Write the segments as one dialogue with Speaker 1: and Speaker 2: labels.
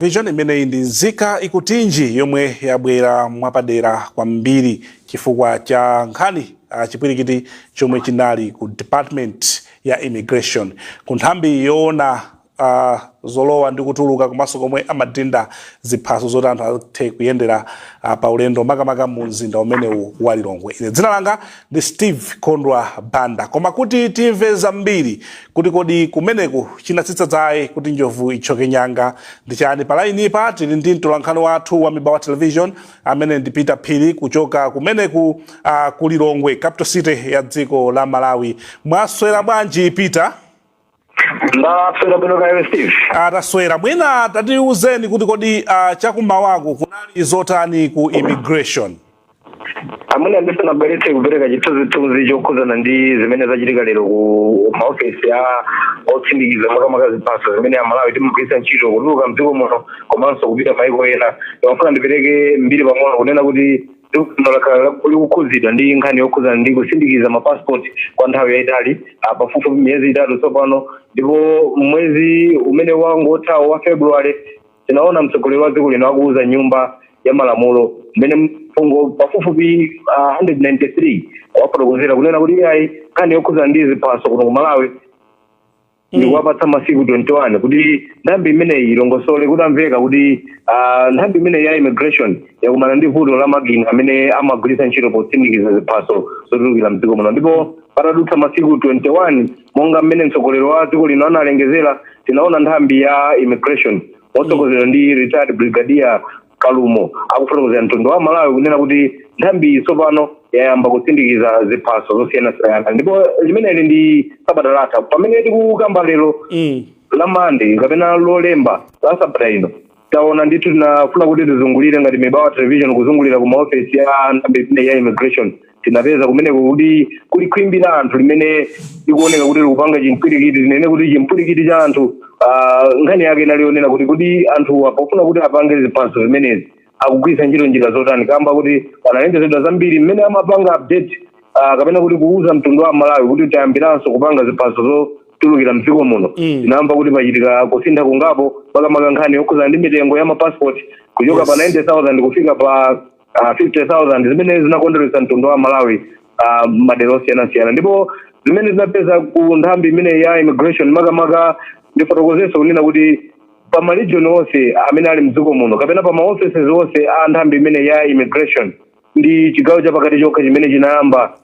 Speaker 1: vishoni imeneyi ndi mzika ikutinji yomwe yabwera mwapadera kwambiri chifukwa cha nkhani uh, chipwirikiti chomwe chinali ku department ya immigration ku nthambi yoona uh, zolowa ndi kutuluka komanso komwe amadinda ziphaso zoti anthu athe kuyendera uh, pa ulendo makamaka mu mzinda umenewu wa Lilongwe ine dzina langa ndi Steve Kondwa Banda. Koma kuti timve zambiri kuti kodi kumeneku chinatsitsa dzaye kuti njovu ithyoke nyanga ndi chani, pa lainipa tili ndi mtolankhani wathu wa Mibawa Television amene ndi Peter Phiri kuchoka kumeneko uh, ku Lilongwe, capital city ya dziko la Malawi. Mwaswera bwanji Peter?
Speaker 2: ndaswera bwino kaya inuyo steve taswera
Speaker 1: mwina tatiuzeni kuti kodi uh, chakummawaku kunali zotani ku immigration
Speaker 2: amwene ndisanabweretse kupereka chithunzithunzi chokhudzana ndi zimene zachitika lero ku maofesi a osindikiza makamaka ziphaso zimene amalawi timagwiritsa ntchito kutuluka mdziko muno komanso kupita maiko ena ndimafuna ndipereke mbiri pang'ono kunena kuti dziko lino lakhala laku- likukhudzidwa ndi nkhani yokhudzana ndi kusindikiza mapasipoti kwa nthawi yayitali ah, pafupifupi miyezi itatu tsopano ndipo mwezi umene wangothawo wa february tinaona mtsogoleri wa dziko lino akuwuza nyumba ya malamulo mmene mfundo pafupifupi ah, 193 anafotokozera kunena kuti iyayi nkhani yokhudzana ndi ziphaso kuno ku malawi ndikuwapatsa masiku 21 kuti nthambi imeneyi ilongosole kutamveka kuti ah, nthambi imeneyi ya immigration yakumana ndi vuto la makina amene amagwiritsa ntchito posindikiza ziphaso zotulukira mdziko muno ndipo patadutsa masiku 21 monga mmene mtsogoleri wa dziko lino analengezera tinaona nthambi ya immigration motsogozedwa ndi retired brigadier Kalumo akufotokozera mtundu wa Malawi kunena kuti nthambiyi tsopano yayamba kusindikiza ziphaso zosiyanasiyana ndipo limeneli ndi sabata latha pamene tikukamba lero Mm. la mande kapena lolemba la sabata ino taona ndithu tinafuna kuti tizungulire ngati mibawa television kuzungulira ku maofesi ya nthambi imeneyi ya immigration tinapeza kumeneko kuti kuli khwimbi la anthu limene likuoneka kuti likupanga chimpwirikiti tinene kuti chimpwirikiti cha anthu ah, nkhani yake inali yonena kuti kuti anthuwa pofuna kuti apange ziphaso zimenezi akugwiritsa ntchito njira zotani kamba kuti panalengezedwa zambiri mmene amapanga update ah, kapena kuti kuuza mtundu wa malawi kuti tayambiranso kupanga ziphaso zotulukira mdziko muno Mm. tinamva kuti pachitika kusintha kungapo makamaka nkhani yokhudzana ndi mitengo ya mapasipoti kuchoka Yes. pa 90000 kufika pa ah, 50,000 zimene zinakondweretsa mtundu wa Malawi ah, madera osiyanasiyana ndipo zimene tinapeza ku nthambi imene ya immigration makamaka ndifotokozenso kunena kuti pa maregion onse amene ali mdziko muno kapena pa maoffices onse a nthambi imene ya immigration ndi chigawo chapakati chokha chimene chinayamba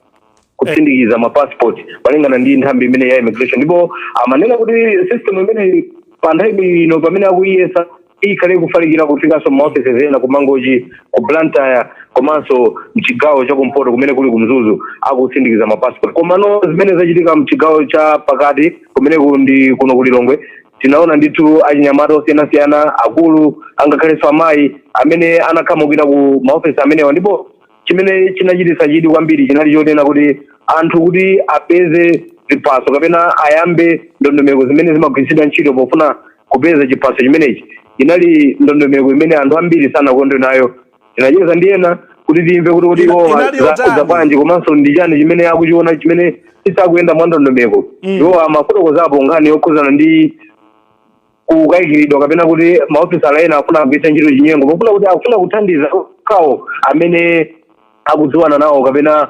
Speaker 2: kusindikiza ma passport malingana ndi nthambi imene ya immigration ndipo amanena kuti system imeneyi pa nthawi ino pamene akuyiyesa ikhale kufalikira kufikanso maofesi ena ku mangochi ku blantyre komanso mchigawo cha kumpoto kumene kuli ku mzuzu akusindikiza mapassport komano zimene zachitika mchigawo cha pakati kumene ku- ndi kuno ku lilongwe tinaona ndithu achinyamata osiyanasiyana akulu angakhalenso amayi amene anakhamukira ku maofesi amenewa ndipo chimene chinachititsa chidwi kwambiri chinali chonena kuti anthu kuti apeze ziphaso kapena ayambe ndondomeko zimene zimagwiritsidwa ntchito pofuna kupeza chiphaso chimenechi inali ndondomeko imene anthu ambiri sanakondwe nayo tinacheza ndi ena kuti timve kuti iwo akuwauza bwanji komanso ndi chani chimene akuchiona chimene chisakuyenda mwa ndondomeko iwo amafotokozapo nkhani yokhuzana ndi kukayikiridwa kapena kuti maofisala ena afuna kugwiritsa ntchito chinyengo pofuna kuti akufuna kuthandiza okhawo amene akudziwana nawo kapena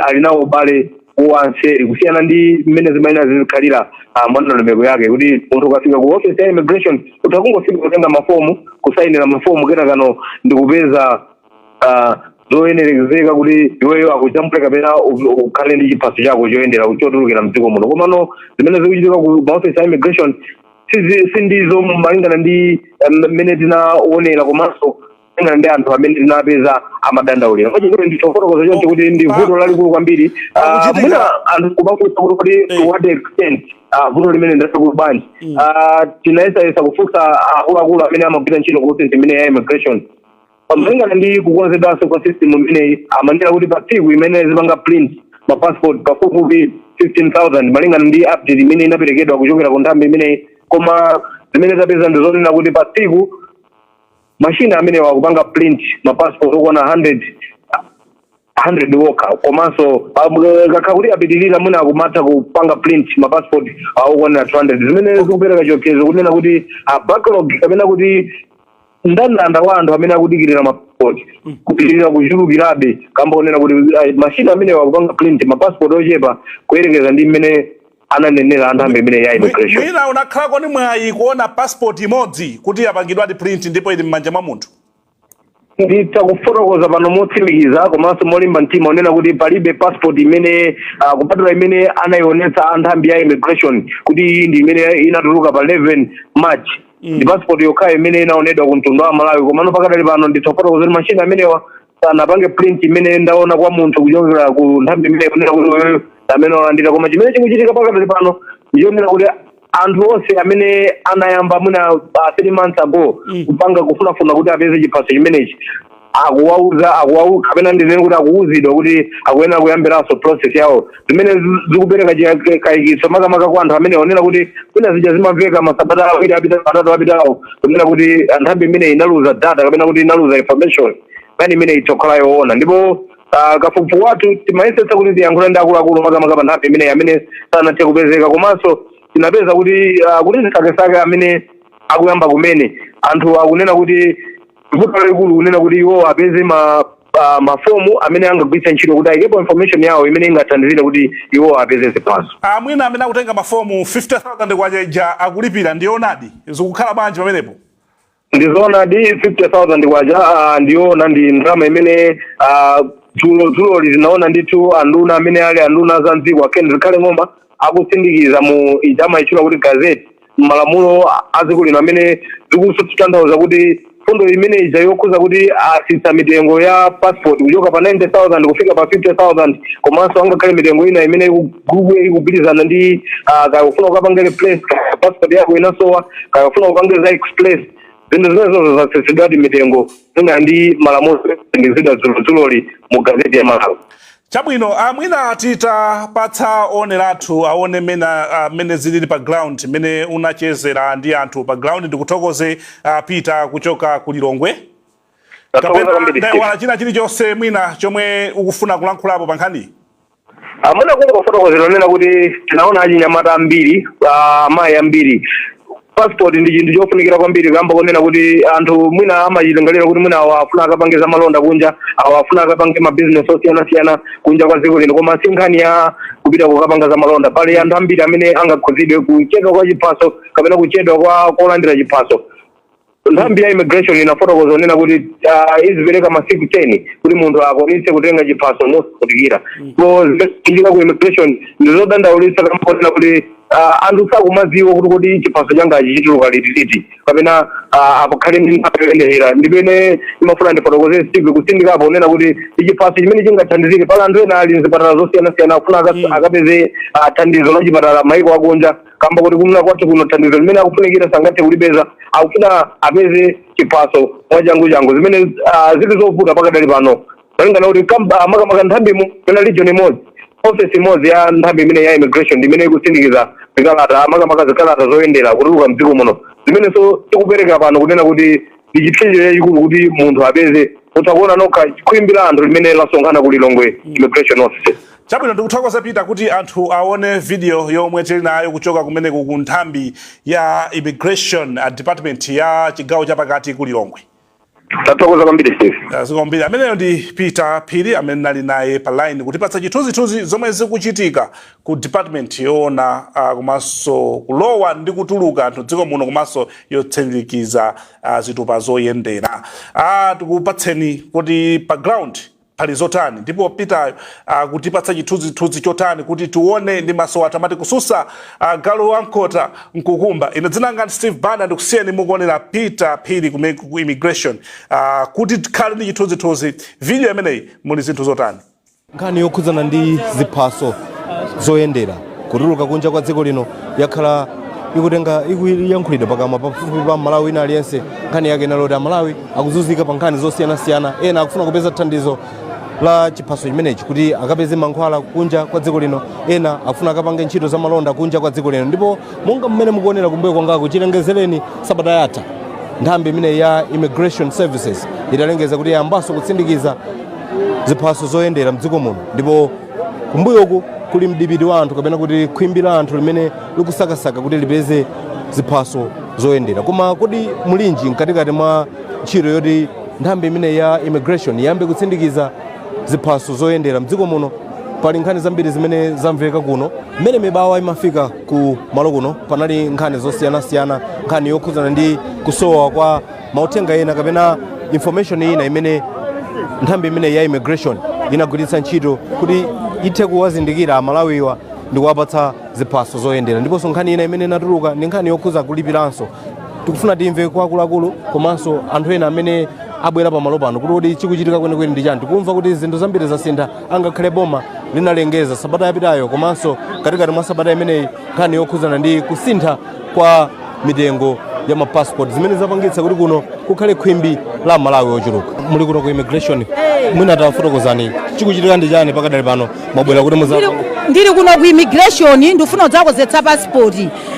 Speaker 2: ali nawo ubale wanseri kusiyana ndi mmene zimayenera zizikhalira ah, mwa ndondomeko yake kuti munthu ukafika ku office ya immigration utha kungofika kutenga mafomu kusayinira mafomu kenakano ndikupeza ah, zoyenerezeka kuti iweyo akujambule kapena u- ukhale ndi chiphaso chako choyendera chotulukira mdziko muno komano zimene zikuchitika ku maofesi a immigration sizi- sindizo malingana ndi eh, mmene tinaonera komanso malingana ndi anthu amene tinapeza amadandaulira pachitero nditha kufotokoza choncho kuti ndi vuto lalikulu kwambiri Ah, Pakuchitika- mwina anthu kumafunsa kuti kuti Eh. to what extent ah, vuto limene ndi lalikulu bwanji Ah, tinayesayesa kufunsa akuluakulu amene amagwira ntchito ku ofesi imene ya immigration malingana ndi kukonzedwanso kwa system imeneyi amanena kuti pa tsiku imeneyi izipanga print ma passport pafupifupi 15000 malingana ndi update imene inaperekedwa kuchokera ku nthambi imeneyi koma zimene tapeza ndi zonena kuti pa tsiku mashini amenewa akupanga print ma passport okwana 100 100 okha komanso kukakhala kuti apitirira mwina akumatha kupanga print ma passport okwana 200 zimene zikupereka chiopsezo kunena kuti backlog kapena kuti ndandanda wa anthu amene akudikirira mapasipoti kupitirira kuchulukirabe kamba konena kuti mashini amenewa akupanga print mapasipoti ochepa kuyerekeza ndi mmene ananenera anthambi imene ya immigration mwina unakhalako ni
Speaker 1: mwayi kuona passport imodzi kuti yapangidwadi print ndipo ili m'manja mwa munthu nditha
Speaker 2: kufotokoza pano motsimikiza komanso molimba mtima kunena kuti palibe passport imene uh, kupatula imene anayionetsa anthambi ya immigration kuti iyi ndi imene inatuluka pa 11 march mm. ndi passport yokhayo imene inaonedwa ku mtundu wa amalawi komano pakadali pano nditha kufotokoza kuti machine amenewa sanapange print imene ndaona kwa munthu kuchokera ku nthambi imene kunena kuti uyu amene walandira koma chimene chikuchitika pakadali pano ndichonena kuti anthu onse amene anayamba mwina uh, three months ago Mm. kupanga kufunafuna kuti apeze chiphaso chimenechi akuwauza akuwau kapena ndinene kuti akuwuzidwa kuti akuyenera kuyambiranso process yawo zimene zi- zikupereka chi- kayikitso makamaka kwa anthu amene onena kuti kwina zija zimamveka masabata awiri apita atatu apitawo kunena kuti nthambi imene inaluza data kapena kuti inaluza information nkhani imene ikukhala yoona ndipo ah, kafukufuku wathu tinayesetsa kuti tiyankhule ndi akuluakulu makamaka pa nthambi imeneyi amene sanathe kupezeka komanso tinapeza kuti ah, kuti chisakesake amene akuyamba kumene anthu akunena kuti vuto lalikulu kunena kuti iwo apeze ma ah, mafomu amene angagwiritse ntchito kuti ayikepo information yawo imene ingathandizire kuti iwo apeze ziphaso mwina amene akutenga
Speaker 1: mafomu 50000 kwacha ija akulipira ndi yoonadi zikukhala bwanji pamenepo
Speaker 2: ndizoonadi 50000 kwacha ah, ndi yoona ndi ndalama imene ah, dzulodzuloli tinaona ndithu anduna amene ali anduna za mdziko a Ken Zikhale Ng'oma akusindikiza mu ija amaitchula kuti gazeti malamulo a dziko lino amene zikutanthauza kuti mfundo imene ija yokhudza kuti atsitsa mitengo ya passport kuchoka pa 90000 kufika pa 50000 komanso angakhale mitengo ina imene ikugugwe ikugwirizana ndi ah, kaya kufuna kukapanga replace kaya passport yako inasowa kaya kufuna kupanga za express zinthu zimenezo zatsitsidwadi mitengo malinga ndi malamulo asindikizidwa dzulodzuloli mu gazeti ya malawi Chabwino,
Speaker 1: a, mwina titapatsa oonera athu aone mmene, a, mmene ziliri pa ground, mmene unachezera ndi anthu pa ground. Ndikuthokoze, a, Peter kuchoka ku Lilongwe. Tathokoza Kapena kwambiri Steve. ndaiwala china chilichonse mwina chomwe ukufuna kulankhulapo pa nkhaniyi? A
Speaker 2: mwina kungofotokozera onena kuti tinaona achinyamata ambiri, ah, amayi ambiri passport ndi chinthu chofunikira kwambiri kamba konena kuti anthu mwina amachilingalira kuti mwina awa afuna akapange za malonda kunja awa afuna akapange mabizinesi osiyanasiyana kunja kwa dziko lino koma si nkhani ya kupita kukapanga za malonda pali anthu ambiri amene angakhudzidwe kuchedwa kwa chiphaso kapena kuchedwa kwa kolandira chiphaso nthambi ya immigration inafotokoza kunena kuti ah, izipereka masiku 10 kuti munthu akwanitse kutenga chiphaso mosavutikira so zimene zikuchitika ku immigration ndizodandaulitsa kamba konena kuti ah, anthu sakumadziwa kuti kodi chiphaso changachi chituluka liti liti kapena ah, apakhale ndi nthawi yoyenerera ndi pamene ndimafuna ndifotokoze steve kutsindikapo kunena kuti chiphaso chimene chingathandizire pali anthu ena ali mzipatala zosiyanasiyana akufuna akapeze ah, thandizo la chipatala maiko akunja kamba koti kuno kwathu kuno thandizo limene akufunikira sangathe kulipeza akufuna apeze chiphaso mwachanguchangu zimene ah, zili zovuta pakadali pano malingana kuti kamp- ah, makamaka nthambimo pena region imodzi office imodzi ya nthambi imene ya immigration ndi imene ikusindikiza zikalata makamaka zikalata zoyendera kutuluka mdziko muno zimenenso zikupereka pano kunena kuti ndi chipsinjo chachikulu kuti munthu apeze utha kuona nokha khwimbi la anthu limene lasonkhana ku lilongwe immigration office Chabwino
Speaker 1: ndikuthokoze Peter kuti anthu awone video yomwe tili nayo kuchoka kumeneko ku nthambi ya immigration department ya chigawo chapakati ku Lilongwe. Tathokoza
Speaker 2: kwambiri Steve. Zikomo kwambiri ameneyo ndi
Speaker 1: Peter Phiri amene nali naye pa line kutipatsa chithunzithunzi zomwe zikuchitika ku department yoona uh, komanso kulowa ndi kutuluka anthu dziko muno komanso yotsindikiza uh, zitupa zoyendera. Ah, tikupatseni kuti pa ground pali zotani ndipo Peter akutipatsa ah, chithunzithunzi chotani kuti tione ndi maso athu amati kususa ah, galu wamkota nkukumba. Ine dzina langa ndi Steve Banda ndikusiyeni mukuonera Peter Phiri ku immigration ah, kuti tikhale ndi chithunzithunzi video imeneyi muli zinthu zotani. Nkhani yokhudzana
Speaker 3: ndi ziphaso zoyendera kutuluka kunja kwa dziko lino yakhala ikutenga ikuyankhulidwa pakamwa pafupi pa mmalawi wina aliyense nkhani yake inali yoti amalawi akuzunzika pa nkhani zosiyanasiyana ena akufuna kupeza thandizo la chiphaso chimenechi kuti akapeze mankhwala kunja kwa dziko lino ena akufuna akapange ntchito za malonda kunja kwa dziko lino ndipo monga mmene mukuonera kumbuyo kwangaku chilengezereni sabata yatha nthambi imeneyi ya immigration services italengeza kuti yayambanso kutsindikiza ziphaso zoyendera mdziko muno ndipo kumbuyoku kuli mdipiti wa anthu kapena kuti khwimbi la anthu limene likusakasaka kuti lipeze ziphaso zoyendera koma kodi mulinji mkatikati mwa ntchito yoti nthambi imeneyi ya immigration iyambe kutsindikiza ziphaso zoyendera mdziko muno pali nkhani zambiri zimene zamveka kuno mmene mibawa imafika ku malo kuno panali nkhani zosiyanasiyana nkhani yokhudzana ndi kusowa kwa mauthenga ena kapena information ina imene nthambi imeneyi ya immigration inagwiritsa ntchito kuti ithe kuwazindikira amalawiwa ndi kuwapatsa ziphaso zoyendera ndiponso nkhani ina imene inatuluka ndi nkhani yokhuza kulipiranso tikufuna timve kwa akuluakulu komanso anthu ena amene abwera pamalo pano kuti kodi chikuchitika kwenikweni ndi chani tikumva kuti zinthu zambiri zasintha angakhale boma linalengeza sabata yapitayo komanso katikati mwa sabata imeneyi nkhani yokhuzana ndi kusintha kwa mitengo ya ma passport zimene zapangitsa kuti kuno kukhale khwimbi la amalawi ochuluka muli kuno ku immigration mwina tafotokozani chikuchitika ndi chani pakadali pano mwabwera kuti muza ndili kuno
Speaker 4: ku immigration ndifuna kudzakonzetsa passport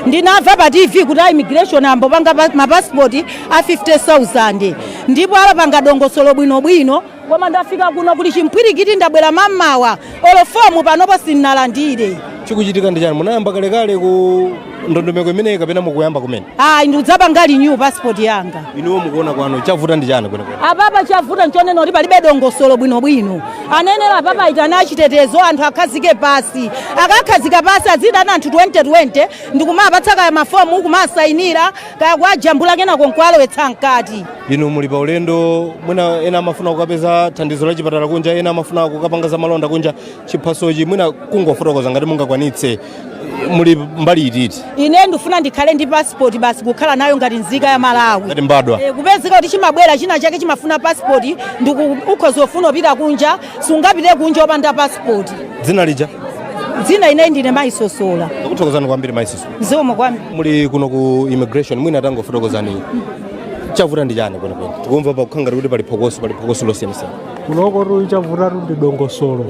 Speaker 4: ndinamva pa tv kuti a immigration ayambo panga pa- mapasipoti a 50000 ndipo apanga dongosolo bwinobwino Koma ndafika kuno kuli chimpwirikiti ndabwera mammawa olo fomu panopo sindinalandire. Chikuchitika ndi
Speaker 3: chani? Munayamba kalekale ku ndondomeko imeneyi kapena mukuyamba kumene? Ayi ndikudzapanga renew
Speaker 4: passport yanga. Inuwo mukuona kwanu
Speaker 3: chavuta ndi chani kwenikweni? Apapa chavuta
Speaker 4: nchonena kuti palibe dongosolo bwinobwino. Anayenera apapa aitane achitetezo anthu akhazike pasi. Akakhazika pasi aziitana anthu 2020 ndikumapatsa kaya mafomu kumasayinira kaya kuwajambula kenako nkuwalowetsa mkati inu muli pa
Speaker 3: ulendo mwina ena amafuna kukapeza thandizo la chipatala kunja ena amafuna kukapanga za malonda kunja chiphasochi mwina kungofotokoza ngati mungakwanitse muli mbali ititi ine ndifuna ndikhale
Speaker 4: ndi pasipoti basi kukhala nayo ngati nzika ya malawi ngati mbadwa Eh,
Speaker 3: kupezeka kuti
Speaker 4: chimabwera china chake chimafuna pasipoti ukhoza kufuna kupita kunja sungapite kunja opanda pasipoti dzina lija
Speaker 3: dzina ine
Speaker 4: ndine mayi sosola ndakuthokozani kwambiri
Speaker 3: mayi soso zikomo kwambiri
Speaker 4: muli kuno
Speaker 3: ku immigration mwina tangofotokozani chavuta ndi chani kwenikweni tikumva pakukhala ngati kuti pali phokoso pali phokoso losiyanasiyana kunokotu
Speaker 5: chavutatu ndi dongosolo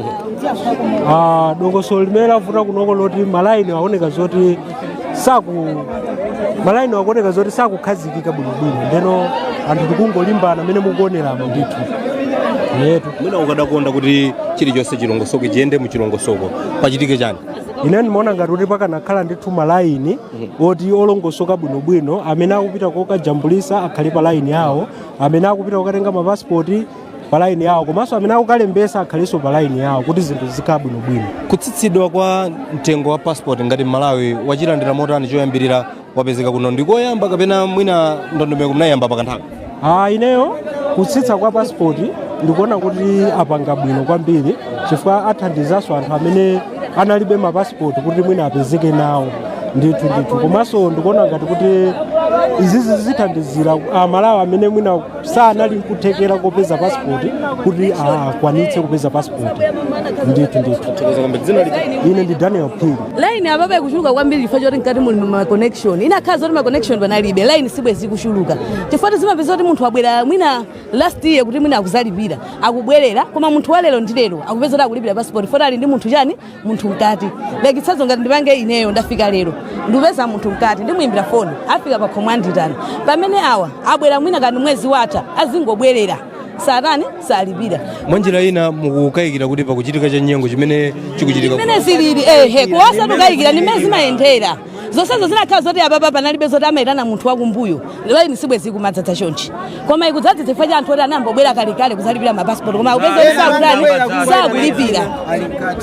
Speaker 5: Ah, dongosolo limene lavuta kunoko loti malaini aoneka zoti saku malaini akuoneka zoti sakukhazikika bwinobwino ndeno anthu tikungolimbana mmene mukuoneramo ndithu yetu mwina ukadakonda
Speaker 3: kuti chilichonse chilongosoko chiyende muchilongosoko pachitike chani ine ndimaona
Speaker 5: ngati kuti pakanakhala ndithu malaini oti olongosoka bwinobwino amene akupita kokajambulisa akhale pa laini yawo amene akupita kokatenga mapasipoti pa laini yawo komanso amene akukalembesa akhalenso pa laini yawo kuti zinthu zikhale bwinobwino kutsitsidwa kwa
Speaker 3: mtengo wa passport ngati mmalawi wachilandira motani choyambirira wapezeka kuno ndi koyamba kapena mwina ndondomeko munayamba pakanthawi Ah,
Speaker 5: ineyo kutsitsa kwa passport ndikuona kuti apanga bwino kwambiri chifukwa athandizanso anthu amene analibe mapasipoti kuti mwina apezeke nawo ndithu ndithu komanso ndikuona ngati kuti izizi zithandizira amalawi amene mwina sanali nkuthekera kopeza passport kuti akwanitse kupeza passport ndithu ndithu ine ndi daniel phiri line apapa ikuchuluka
Speaker 6: kwambiri chifukwa choti mkati muli ma connection inakakhala zoti ma connection panalibe line sibwezi ikuchuluka chifukwa zimapezeka kuti munthu abwera mwina last year kuti mwina akuzalipira akubwerera koma munthu walero ndi lero akupezeka kuti akulipira passport foti ali ndi munthu chani munthu mkati like chitsanzo ngati ndipange ineyo ndafika lero ndipeza munthu mkati ndimuyimbira foni afika pakhomo anditani pamene awa abwera mwina kani mwezi watha azingobwerera osatani osalipira mwanjira
Speaker 3: ina mukukayikira kuti pakuchitika chinyengo chimene chikuchitika mmene zilili ehe
Speaker 6: osati kukayikira ndi mmene zimayendera zonsezo zinakakhala zoti apapa panalibe zoti amayitana munthu wakumbuyo line sibwezi ikumadzadza chonchi koma ikudzadza chifukwa cha anthu oti anangobwera kalekale kuzalipira mapasipoti koma akupezeka kuti sakutani sakulipira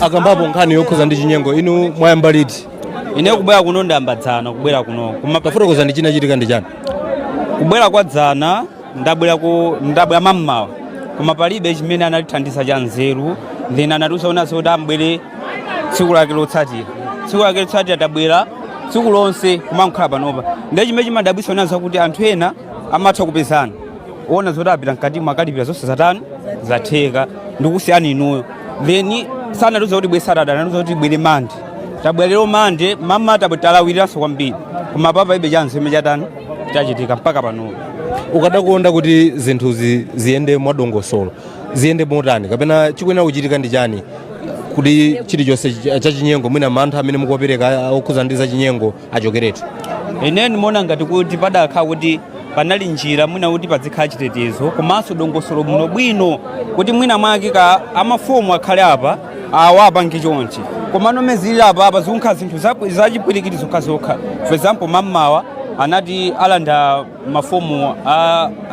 Speaker 3: akambapo nkhani yokhuza ndi chinyengo inu mwayamba liti ine kubwera kuno
Speaker 7: ndayamba dzana kubwera kuno koma tafotokozani chinachitika
Speaker 3: ndi chani kubwera kwa
Speaker 7: dzana ndabwera ku ndabwera mammawa koma palibe chimene anatithandiza cha nzeru then anatiuza zonena zoti tibwere tsiku lake lotsatira tsiku lake lotsatira tabwera tsiku lonse kumangokhala panopa ndiye chimene chimadabwitsa nchonena kuti anthu ena amatha kupezeka zonena zoti apita mkatimo akalipira zonse zatani zatheka ndikusiyani inuyo then sanatiuze kuti tibwere saturday anatiuza kuti tibwere mande tabwera lero mande mmawa tabwe talawiranso kwambiri koma apapa palibenso chimene chatani chachitika mpaka panopa
Speaker 3: ukadakonda kuti zinthu zi- ziyende mwadongosolo ziyende motani kapena chikuyenera kuchitika ndi chani kuti chilichonse ch- chachinyengo mwina mantha amene mukuwapereka okhuza ndi zachinyengo achokeretu ine
Speaker 7: ndimaona ngati kuti padakhala kuti panali njira mwina kuti padzikhala chitetezo komanso dongosolo bwinobwino kuti mwina mwake ka amafomu akhale apa awa apange chonchi komano mene zilili apapa zikunkha zinthu zachipwirikiti zokhazokha for example mammawa anati alanda mafomu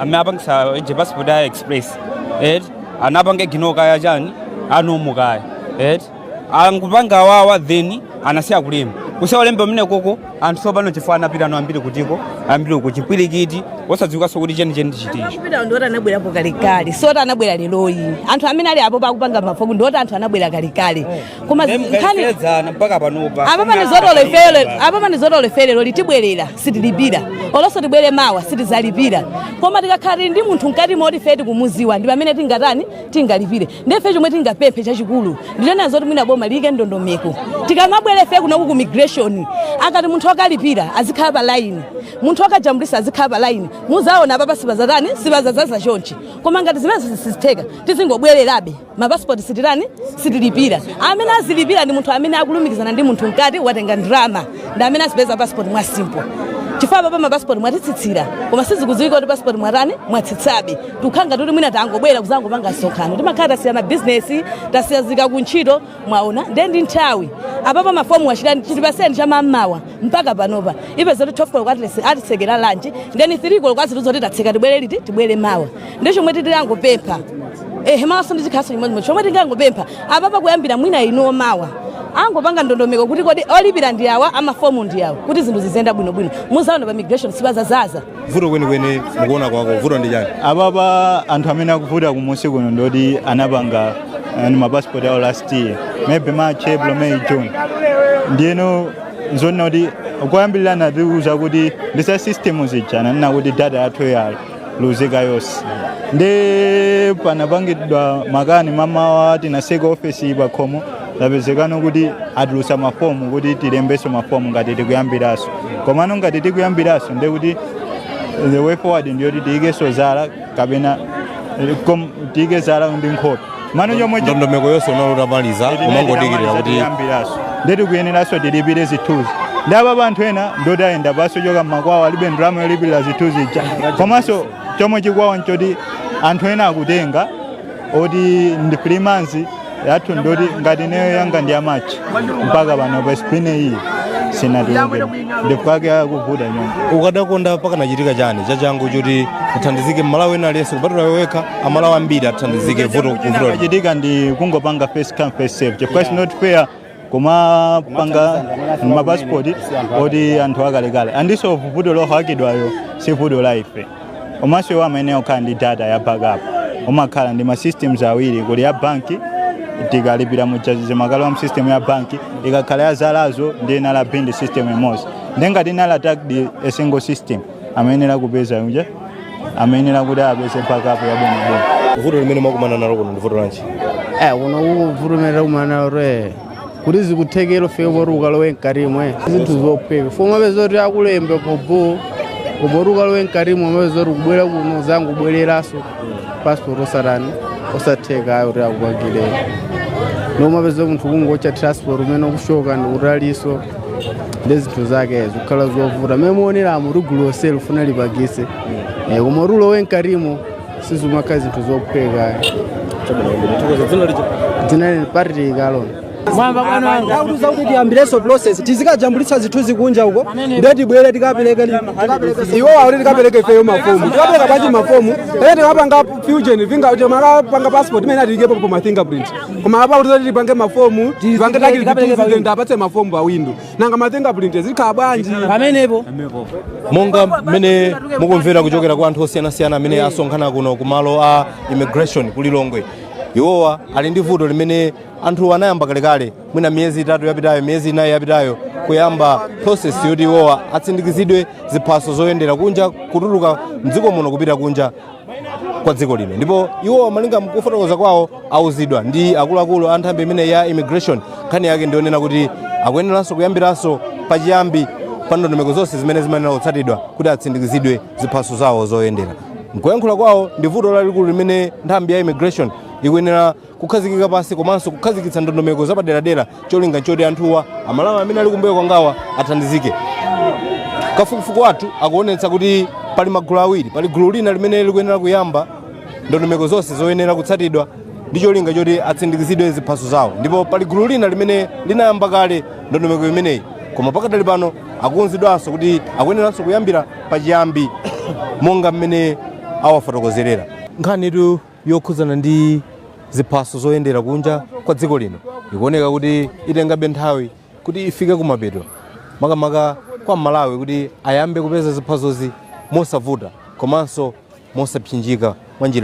Speaker 7: amene apangisa je passport ya express eti anapanga gino kaya chani a normal kaya eti akupanga wawa then anasiya kulemba kusiya kulemba kumenekoko anthu tsopano chifukwa anapitano ambiri kutiko ambiri uko chipwirikiti osadziwikanso kuti chenicheni ndi chiti chifukwa ndiwoti anabwerapo
Speaker 6: kalekale siwoti anabwera leroli anthu amene ali apo pakupanga mafomu ndiwoti anthu anabwera kalekale koma zi- nkhani mkayedzana mpaka
Speaker 7: panopa
Speaker 6: apapa ndi zoti olo ife leroli tibwerera sitilipira olonso tibwere mawa sitizalipira koma tikakhala tili ndi munthu mkati moti ife tikumuziwa ndi pamene tingatani tingalipire nde ife chomwe tingapemphe chachikulu ndinena zoti mwina boma liyike ndondomeko tikamabwera ife kunoku ku immigration akati munthu akalipira azikhala pa line munthu akajambulisa azikhala pa line muzaona apapa sipazatani sipazazaza chonchi koma ngati zimene sizitheka tizingobwererabe mapasipoti sititani sitilipira amene azilipira ndi munthu amene akulumikizana ndi munthu mkati watenga ndrama ndi amene azipeza pasipoti mwa simple chifukwa apapa mapasipoti mwatitsitsira koma sizikudziwika kuti pasipoti mwatani mwatsitsabe tukhala ngati kuti mwina tangobwera kuzangopanga msonkhano timakhala tasiya mabizinesi tasiya zika kuntchito mwaona nde ndi nthawi apapa mafomu achitani chitipaseni cha mammawa mpaka panopa upeza zoti 12 koloko atilese- atisekera lunch then 3 koloko azitiuza zoti tatseka tibwere liti tibwere mawa ndi chomwe titilangopempha ehe mawaso ndi chikhaso chimodzi chomwe tingangopempha apapa kuyambira mwina inuwo mawa angopanga ndondomeko kuti kodi olipira ndi awa amafomu ndi awa kuti zinthu ziziyenda bwinobwino muzaona pa immigration sipazazaza vuto
Speaker 8: kwenikweni mukuona kwako vuto ndi chani apapa anthu amene akuvuta kumusi kuno ndoti anapanga eh, ndi mapasipoti awo last year maybe march april may june ndiyeno nzonena kuti koyambirira anatiuza kuti ndi za system zija ananena kuti data yathu yaluzika yonse ndi panapangidwa makani mammawa tinaseka ofesi pakhomo tapezekano kuti atulusa mafomu kuti tilembeso mafomu ngati tikuyambiraso komano ngati tikuyambiraso ndiye kuti the way forward ndi yoti tiyikeso zala kapena eh, kom- tiyike zala ndi nkhope mano chomwe chi- ndondomeko yonse
Speaker 3: unali utamaliza umangodikirira kuti tiyambiraso
Speaker 8: ndiye tikuyeneraso tilipire zithunzi nde apapa anthu ena ndoti ayenda pasi kuchoka mmakwawo alibe ndalama yolipirira zithunzi ija komanso chomwe chikuwawa nchoti anthu ena akutenga oti ndi 3 months yathu ndi yoti ngati ineyo yanga ndi ya March mpaka pano passport-yi sinatuluke ndi chifukwa chake akuvuta nyonga ukadakonda
Speaker 3: pakanachitika chani chachangu choti uthandizike mmalawi ena aliyense kupatula iwe wekha amalawi ambiri athandizike vuto likuyenera kuchitika ndi
Speaker 8: kungopanga first come first serve chifukwa it's not fair kumapanga mapasipoti oti anthu akalekale anditso vuto lohakidwayo si vuto la ife komanso iwo amene okhala ndi data ya backup umakhala ndi ma systems awiri kuli ya banki tikalipira mujazize makalo a mu system ya banki ikakhala yadzadza ndiye anali ndi system imodzi ndiye ngati ina ili attacked a single system amayenera kupeza unja amayenera kuti apeze backup yabwinobwino vuto limene mwakumana
Speaker 3: nalo kuno ndi vuto lanji eh kuno
Speaker 9: vuto limene takumana nalo kuti zikutheka ufike poti ukalowe mkatimo zinthu zophweka umapeza kuti akulembe pobo kupoti ukalowe mkatimo umapeza kuti kubwera kuno zangu kubwereranso passport osatheka kuti akupangire ndiye umapeza munthu kungowotcha transport kumene ukuchoka ndi kutalinso ndi zinthu zake zikukhala zovuta mmene mukuoneramu gulu lonseli likufuna lipangitse Eh, koma kulowa mkatimo sizimakhala zinthu zophweka dzina lini party ikalona mwamva
Speaker 5: bwana atiuza kuti tiyambirenso process tizikajambulitsa zithunzi kunja uko ndiye tibwere tikapereke iwo akuti tikapereke ifeyo mafomu tikapereka panja mafomu pene tikapanga ma fingerprint kuti makapanga passport imene atiyikepo pa ma fingerprint koma apa kuti tipange mafomu tipange takilipitizi tiwapatse mafomu pa window nanga ma fingerprint zikhala bwanji pamenepo monga
Speaker 3: mmene mukumvera kuchokera kwa anthu osiyanasiyana amene asonkhana kuno ku malo a immigration ku lilongwe iwowa ali ndi vuto limene anthu anayamba kalekale mwina miyezi itatu yapitayo miyezi inayi yapitayo kuyamba process yoti iwowa atsindikizidwe ziphaso zoyendera kunja kutuluka mdziko muno kupita kunja kwa dziko lino ndipo iwo malinga mkufotokoza kwawo auzidwa ndi akuluakulu a nthambi imene ya immigration nkhani yake ndi yonena kuti akuyeneranso kuyambiranso pachiyambi pa ndondomeko zonse zimene zimayenera kutsatidwa kuti atsindikizidwe ziphaso zawo zoyendera mkuyankhula kwawo ndi vuto lalikulu limene nthambi ya immigration ikuyenera kukhazikika pansi komanso kukhazikitsa ndondomeko zapaderadera cholinga nchoti anthuwa amalawi amene ali kumbuyo kwangawa athandizike kafukufuku wathu akuonetsa kuti pali magulu awiri pali gulu lina limene likuyenera kuyamba ndondomeko zonse zoyenera kutsatidwa ndi cholinga choti atsindikizidwe ziphaso zawo ndipo pali gulu lina limene linayamba kale ndondomeko imeneyi koma pakadali pano akuuzidwanso kuti akuyeneranso kuyambira pachiyambi monga mmene awafotokozerera nkhanitu yokhudzana ndi ziphaso zoyendera kunja kwa dziko lino ikuoneka kuti itengabe nthawi kuti ifike kumapeto makamaka kwa mmalawi kuti ayambe kupeza ziphasozi mosavuta komanso mosapsinjika mwa njira